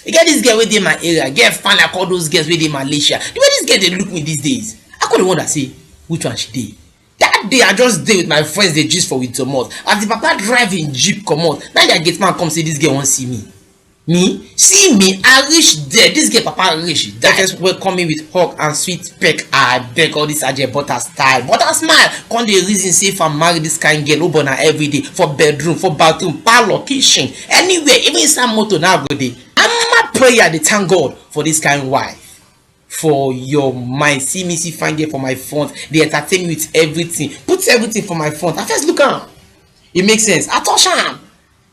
E get this girl wey dey my area, girl fine like all those girls wey dey Malaysia. The way this girl dey look me these days, I come dey wonder say which one she dey. That day, I just dey with my friends dey gist for we domot, as the papa drive him jeep comot, na him their gate man come say this girl wan see me. Me? See me? I reach there, this girl papa reach die first welcome me with hug and sweet peck, I beg all this Aje butter style, butter smile, come dey reason say if I marry this kind girl, oh boy na everyday, for bedroom, for bathroom, parlour, kitchen. anywhere even inside motor now go dey ama prayer dey thank god for this kind wife for your mind see me see fine girl for my front dey entertain me with everything put everything for my front i first look am e make sense i touch am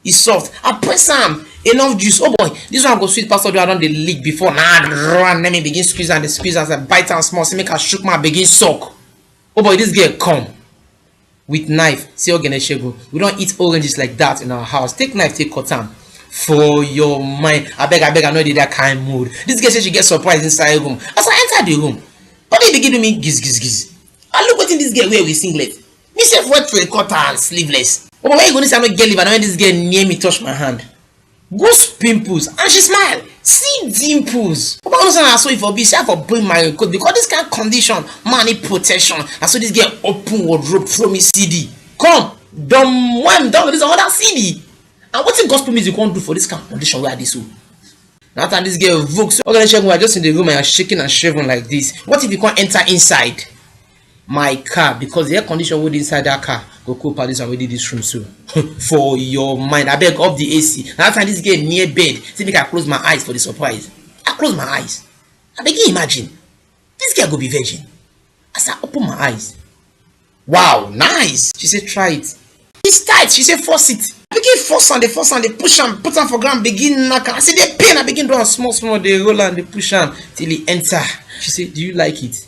e soft i press am enough juice oh boy this one go sweet pass all the one i don dey lick before na run let me begin squeeze am dey squeeze am as i bite am small say make i shook my begin suck oh boy this girl come with knife say ogene segun we don eat oranges like that in our house take knife take cut am for your mind abeg abeg i no dey that kind mood this girl say she get surprise inside room as i enter the room body begin do me giz giz giz i look wetin this girl wear with singlet me sef wear three quarter and sleeveless omo where you go know say i no get liver na when this girl near me touch my hand Goose pimples and she smile see dimples Papa no say na so e for be say I for bring my coat because this kind condition man need protection na so this girl open wardrobe throw me CD come dom wem don release another CD and wetin gospel music wan do for this kind condition wey I dey so that time this girl vogue so okay shegun I just in the room and I shaking and shaven like this what if you come enter inside my car because the air condition wey dey inside that car go cool pass this one wey dey this room so for your mind abeg off the ac na that time this girl near bed say make i close my eyes for the surprise i close my eyes i begin imagine this girl go be virgin as i open my eyes wow nice she say try it it's tight she say force it i begin force am dey force am dey push am put am for ground begin knack am i say dey pain i begin do am small small dey roll am dey push am till e enter she say do you like it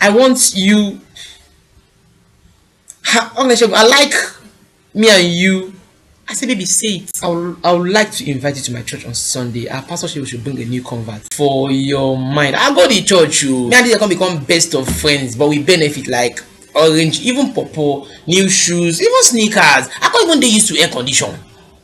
I want you ha Oneshegun I like me and you I say baby say it I would, I would like to invite you to my church on Sunday our pastor say we should bring a new convert for your mind I go to church you oh. me and this come become best of friends but we benefit like orange even pawpaw new shoes even sneakers I can't even dey used to air condition